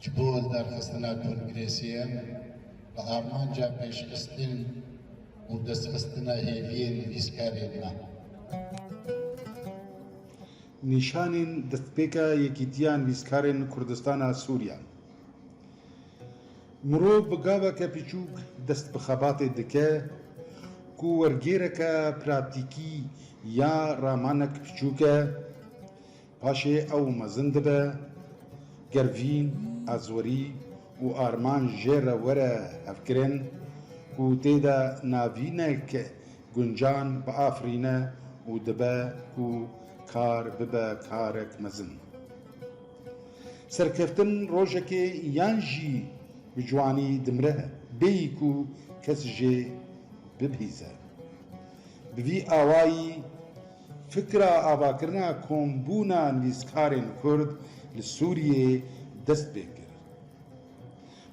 Ji bo lidarxistina kongresiyan bi armanca pêşxistin û destxistina hêviyên nivîskarên me. Nîşanên destpêka Yekîtiya Nivîskarên Kurdistana Sûriya Mirov bi gaveke piçûk dest bi xebatê dike ku wergêreke pratîkî ya ramanek piçûk e, Paşê ew mezin dibe, Gervîn, Azwerî û Arman jê re were hevkirin ku tê de navînek guncan biafirîne û dibe ku kar bibe karek mezin. Serkeftin rojekê yan jî bi ciwanî dimire bêyî ku kes jê bibihîze. Bi vî awayî Fikra avakirina kombûna nivîskarên Kurd li Sûriyê dest pê kir.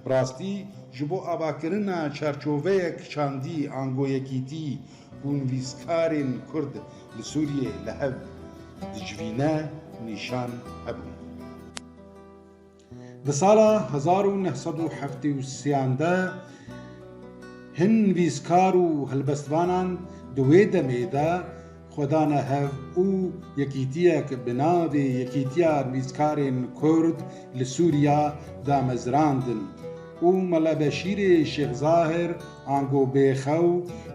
Bi rastî ji bo avakirina çarçoveyek çandî ango yekîtî û nivîskarên Kurd li Sûriyê li hev dicivîne nîşan hebûn. Di sala hezar û neh sed û heftê û sêyan de hin nivîskar û helbestvanan di wê demê de xwe dane hev û yekîtiyek bi navê Yekîtiya Nivîskarên Kurd li Sûriya damezrandin û Mela Beşîrê Şêx Zahir ango bêxew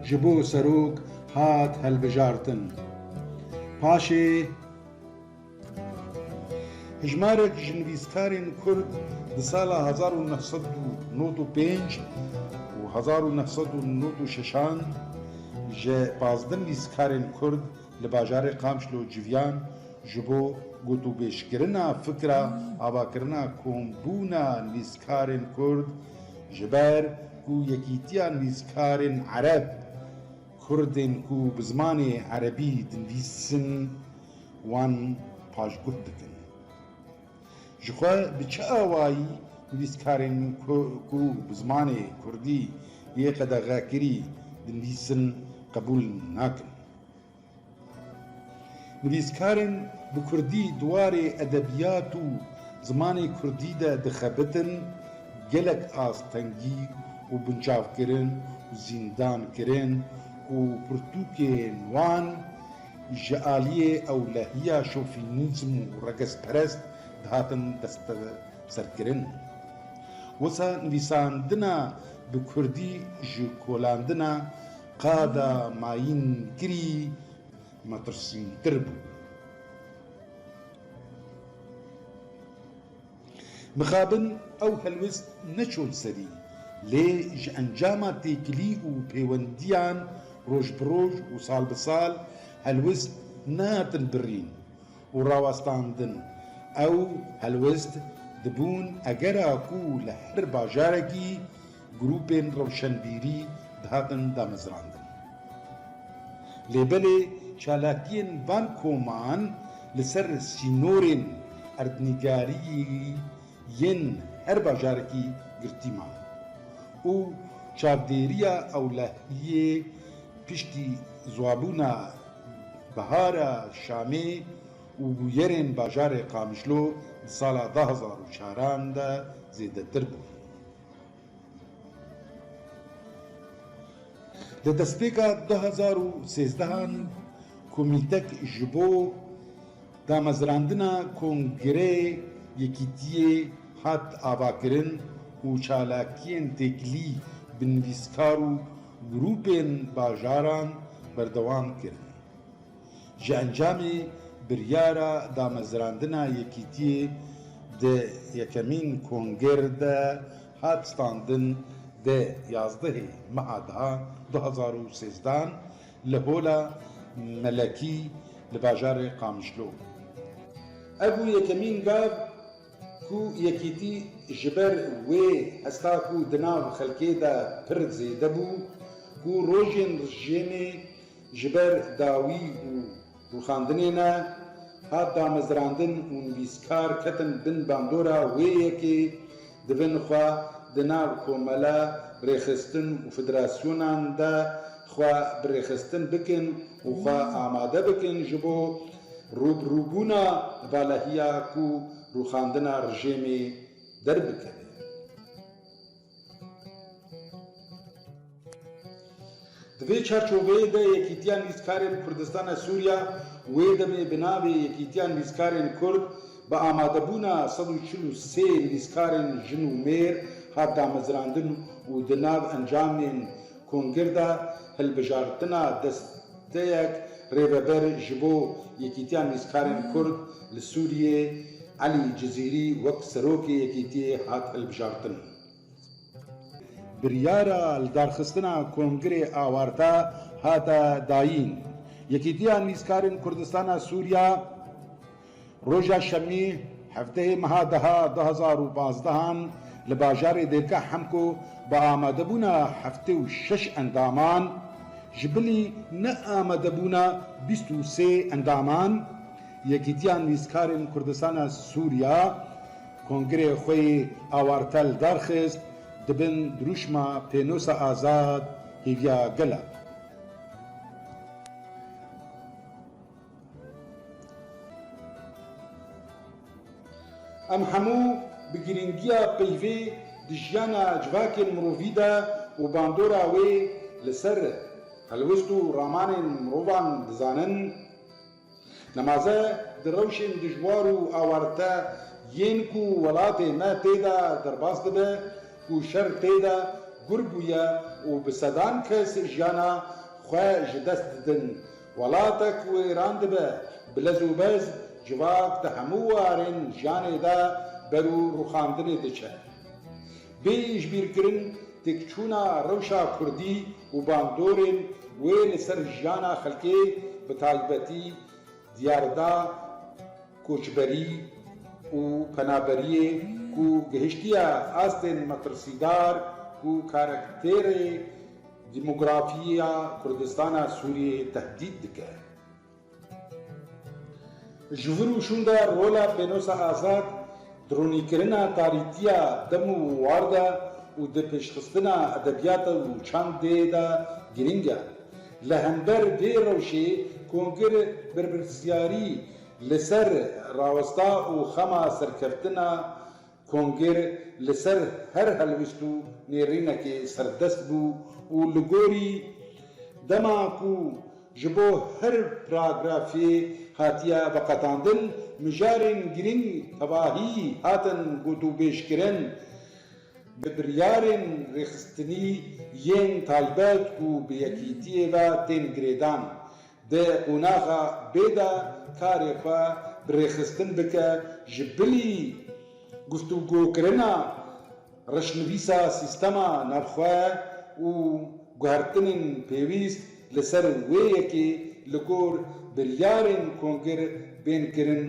ji bo serok hat hilbijartin. Paşê. Hejmarek ji nivîskarên Kurd di sala hezar û neh sed û nod û pênc û hezar û neh sed û nod û şeşan ji pazdeh nivîskarên Kurd li bajarê Qamişlo civiyan ji bo gotûbêjkirina fikra avakirina kombûna nivîskarên Kurd ji ber ku Yekîtiya Nivîskarên Ereb, Kurdên ku bi zimanê erebî dinivîsin, wan paşguh dikin. Ji xwe bi çi awayî nivîskarên ku bi zimanê kurdî yê qedexekirî dinivîsin qebûl nakin? Nivîskarên bi kurdî di warê edebiyat û zimanê kurdî de dixebitin gelek astengî û binçavkirin û zîndankirin û pirtûkên wan, Ji aliyê ewlehiya şofînîzm û regezperest dihatin desteserkirin. Wisa nivîsandina bi kurdî ji kolandina qada mayînkirî metirsîntir bû. Mixabin ew helwest neçûn serî, lê ji encama têkilî û pêwendiyan roj bi roj û sal bi sal helwest nehatin birîn û rawestandin. Ew helwest dibûn egera ku li her bajarekî Grûpên rewşenbîrî dihatin damezrandin. Lê belê çalakiyên van koman li ser sînorên erdnîgariyî yên her bajarekî girtî man û çavdêriya ewlehiyê piştî ziwabûna Bihara Şamê û bûyerên bajarê Qamişlo di sala du hezar û çaran de zêdetir bû. Di destpêka du hezar û sêzdeh an komîtek ji bo damezrandina Kongreyê Yekîtiyê hat avakirin û çalakiyên têkilî bi nivîskar û grûpên bajaran berdewam kirin. Ji encamê biryara damezrandina yekîtiyê di yekemîn konger de hat standin dê yazdehê meha da du hezar û sêzdan li Hola Melekî li bajarê Qamişlo. Ev bû yekemîn gar ku yekîtî ji ber wê hesta ku di nav xelkê de pir zêde bû ku rojên rijêmê, Ji ber dawî û rûxandinê me hat damezrandin û nivîskar ketin bin bandora wê yekê di bin xwe di nav komela rêxistin û federasyonan de xwe bi rêxistin bikin û xwe amade bikin ji bo rûbirûbûna valehiya ku rûxandina rijêmê derbikeve. Di vê çarçoveyê de Yekîtiya Nivîskarên Kurdistana Sûriya wê demê bi navê Yekîtiya Nivîskarên Kurd bi amadebûna sed û çil û sê nivîskarên jin û mêr hat damezrandin û di nav encamên Kongirda hilbijartina desteyek rêveber ji bo Yekîtiya Mîzkarên Kurd li Sûriyê Elî Cizîrî wek serokê yekîtiyê hat hilbijartin. Biryara lidarxistina kongirê awarta hate dayîn. Yekîtiya Mîzkarên Kurdistana Sûriya Roja şemî hefteyê meha deha du hezar û pazdeh an li bajarê Dêrka Hemko bi amadebûna heftê û şeş endaman, ji bilî neamadebûna bîst û sê endaman Yekîtiya Nivîskarên Kurdistana Sûriya kongirê xwe yê awartel darxist di bin dirûşma Pênosa Azad hêviya gel a. Em hemû bi girîngiya peyvê di jiyana civakên mirovî de û bandora wê li ser helwest û ramanên mirovan dizanin. Nemaze di rewşên dijwar û awarite yên ku welatê me tê de derbas dibe ku şer tê de gur bûye û bi sedan kes jiyana xwe ji dest didin Welatek wêran dibe, bi lez û bez civak di hemû warên jiyanê de berû rûxandinê diçe. Bê îşbîrkirin têkçûna rewşa kurdî û bandorên wê li ser jiyana xelkê bi taybetî diyarda koçberî û penaberiyê ku gihiştiye astên metirsîdar ku karakterê Demografiya Kurdistana Sûriyeyê tehdît dike. Ji vir û şûnde rola Pênosa Azad di ronîkirina tarîtiya dem û war de û di pêşxistina edebiyata û çandê de girîng e. Li hember vê rewşê Kongir birpirsiyarî li ser rawesta û xema serkeftina Kongêr li ser her helwîst û nêrînekê serdest bû û li gorî dema ku ji bo her pragrafê hatiye veqetandin, mijarên girîng tevahî hatin gotûbêjkirin bi biryarên rêxistinî yên taybet ku bi yekîtiyê ve tên girêdan. Di qonaxa bê de karê xwe bi rêxistin bike ji bilî guftûgokirina reşnivîsa sîstema navxwe û guhertinên pêwîst li ser wê yekê li gor biryarên kongir bên kirin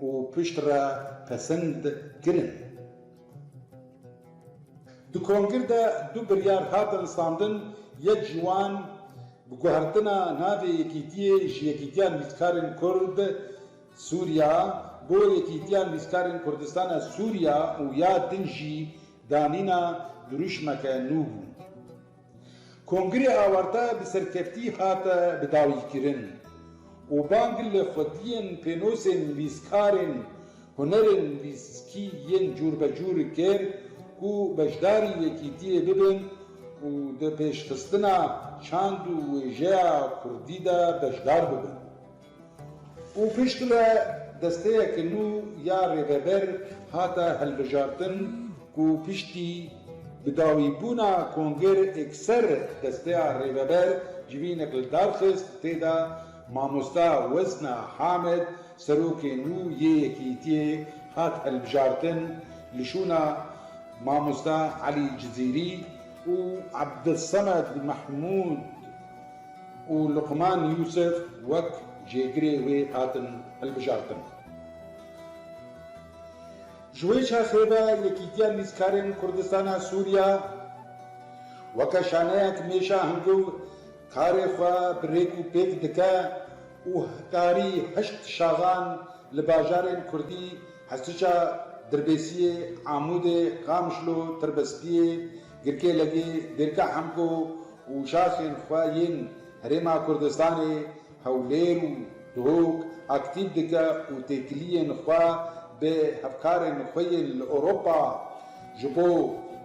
û piştre pesend kirin. Di kongir de du biryar hatin standin, yek ji wan bi guhertina navê yekîtiyê ji Yekîtiya Nivîskarên Kurd, Sûriya, bo Yekîtiya Nivîskarên Kurdistana Sûriya û ya din jî danîna dirûşmeke nû bû. Kongre awarte bi serkeftî hate bidawîkirin û bang li xwediyên pênosên nivîskarên hunerên nivîskî yên cûrbecûr kir ku beşdarî yekîtiyê bibin û di pêşxistina çand û wêjeya kurdî de beşdar bibin. û piştre desteyeke nû ya rêveber hate hilbijartin ku piştî bi dawîbûna Konger Ekser desteya rêveber civînek li dar xist tê de Mamosta Wezna Hamed serokê nû yê yekîtiyê hat hilbijartin li şûna Mamosta Elî Cizîrî û Ebdulsemed Mehmûd û Luqman Yûsif wek jêgirê wê hatin hilbijartin. Ji wê çaxê ve Yekîtiya Lîzkarên Kurdistana Sûriya weke şaneyek mêşa hingiv karê xwe bi rêk û pêk dike û hikarî heşt şaxan li bajarên kurdî Hesiça, Dirbêsiyê, Amûdê, Qamişlo, Tirbespiyê, Girkê Legî, Girka Hemko û şaxên xwe yên Herêma Kurdistanê, Hewlêr û Duhok aktîv dike û têkiliyên xwe bi hevkarên xwe yên li Ewropa ji bo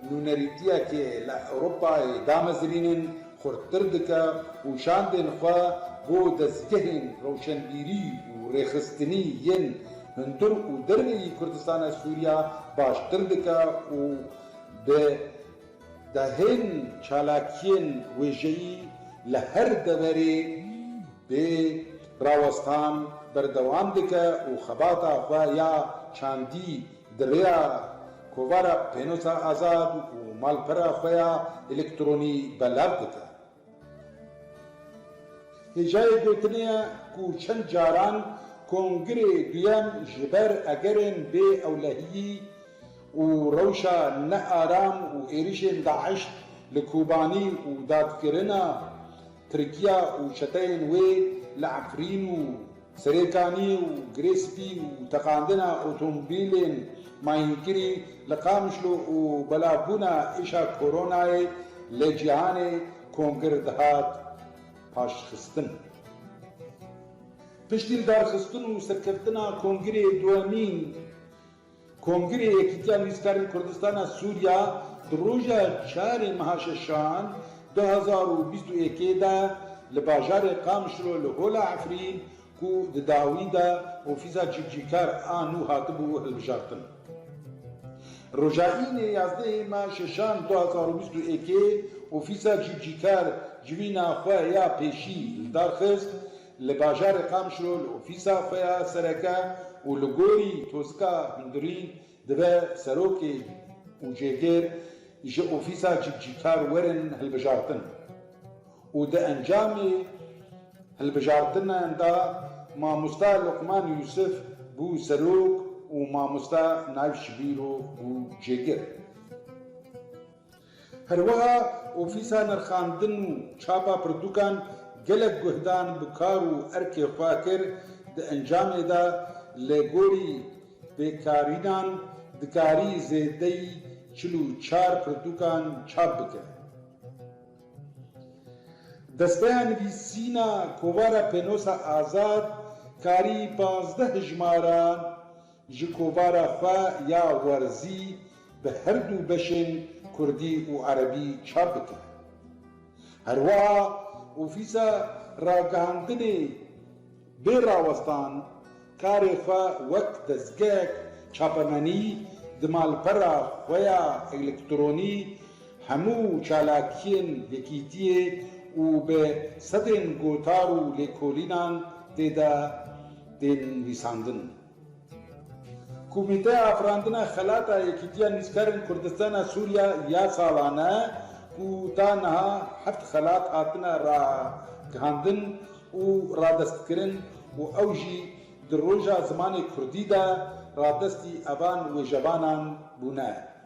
nûnerîtiyekê li Ewropayê damezrînin xurttir dike û şandên xwe bo dezgehên rewşenbîrî û rêxistinî yên hundir û derveyî Kurdistana Sûriya baştir dike û Bi dehên çalakiyên wêjeyî li her deverê bê rawestan berdewam dike û xebata xwe ya çandî di rêya kovara Pênosa Azad û malpera xwe ya elektronî belav dike. Hêjayê gotinê ye ku çend caran Kongirê Duyem ji ber egerên bê ewlehiyî û rewşa ne aram û êrişên DAIŞ li Kobanî û dadkirina Tirkiya û çeteyên wê li Efrîn û Serêkanî û girê spî û teqandina otomobîlên mayînkirî li Qamişlo û belavbûna êşa koronayê li cîhanê kongir dihat paşxistin. Piştî lidarxistin û serkeftina kongirê duyemîn, Kongirê Yekîtiya Nivîskarên Kurdistana Sûriya di roja çarê meha şeşan du hezar û bîst û yekê de li bajarê Qamişlo li Hola Efrîn ku di dawî de ofîsa civcîkar a nû hatibû hilbijartin roja Înê yazdehê meha şeşan du hezar û bîst û yekê ofîsa civcîkar civîna xwe ya pêşî li dar xist Li bajarê Qamişlo li ofîsa xwe ya sereke û li gorî Tozika Hundirî dibe serokê û jêgêr ji ofîsa cîkcîkar werin hilbijartin û di encamê hilbijartinan de mamosta Luqman Yûsif bû serok û mamosta Naif Şibîro bû jêgir. Herweha ofîsa nirxandin û çapa pirtûkan gelek guhdan bi kar û erkê xwe kir, di encamê de li gorî pêkarînan dikarî zêdeyî çil û çar pirtûkan çap bike. Desteya nivîsîna kovara Pênosa Azad karî pazdeh hijmaran, Ji kovara xwe ya werzî bi her du beşên kurdî û erebî çap dike. Herwiha ofîsa ragihandinê bê rawestan karê xwe wek dezgehek çapemenî di malpera xwe ya elektronî hemû çalakiyên yekîtiyê û bi sedên gotar û lêkolînan tê de tên nivîsandin. Komîteya Afirandina Xelata Yekîtiya Nivîskarên Kurdistana Sûriya ya salan e ku ta niha heft xelat hatine ragihandin û radestkirin û ew jî di roja zimanê kurdî de radestî evan wêjevanan bûne.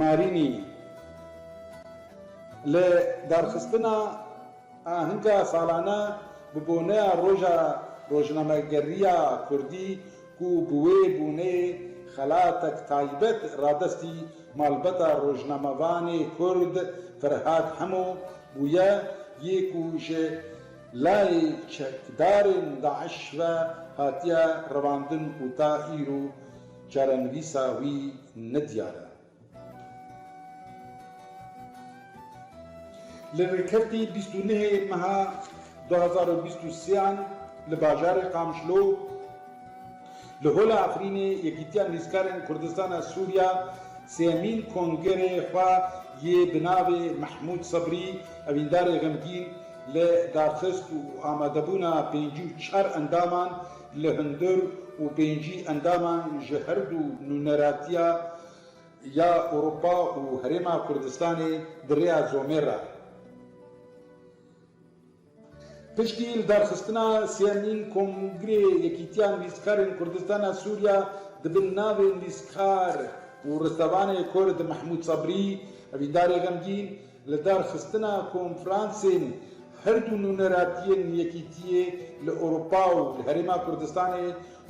Marînî, li darxistina ahinka salane bi boneya Roja Rojnamegeriya Kurdî ku bi wê bonê xelatek taybet radestî malbata rojnamevanê Kurd Ferhad Hemo bûye yê ku ji layê çekdarên DAIŞ ve hatiye revandin û ta îro Çarenivîsa wî ne diyar e. Li Rêkefî bîst û nehê meha du hezar û bîst û sê an li bajarê Qamişlo li Hola Efrînê Yekîtiya Nivîskarên Kurdistana Sûriya sêyemîn kongerê xwe yê bi navê Mehmûd Sebrî Evîndarê Xemgîn li darxist û amadebûna pêncî û çar endaman Li hundir û pêncî endaman ji her du nûneratiya ya Ewropa û Herêma Kurdistanê di rêya zomê re piştî lidarxistina sêyemîn Kongrê Yekîtiya Nivîskarên Kurdistana Sûriya di bin navê Nivîskar û Restevanê Kurd Mehmûd Sebrî, Evîndarê Xemgîn, Li darxistina konfransên her du nûneratiyên Yekîtiyê li Ewropa û li Herêma Kurdistanê,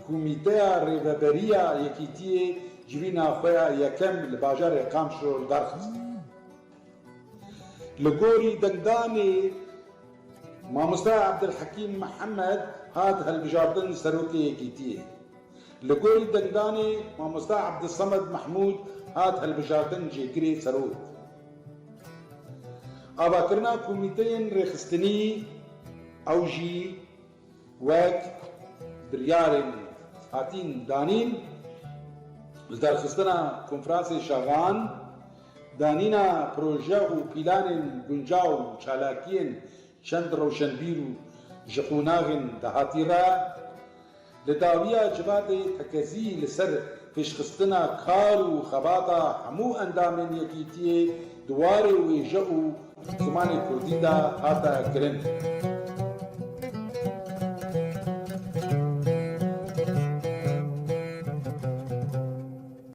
Komîteya Rêveberî ya Yekîtiyê civîna xwe ya yekem li bajarê Qamşlo li dar xist. Li gorî dengdanê Mamoste Abdulhekîm Mihemed hat hilbijartin Serokê Yekîtiyê. Li gorî dengdanê Mamoste Abdulsamed Mehmûd hat hilbijartin Cêgirê Serok. Avakirina komîteyên rêxistinî ew jî wek biryarên hatîn danîn ji derxistina konferansê şaxan, danîna proje û pîlanên guncaw û çalakiyên çend rewşenbîr û ji qonaxên dahatî re, Li dawiya civatê tekezî li ser pêşxistina kar û xebata hemû endamên yekîtiyê di warê wêje û zimanê kurdî de hate kirin.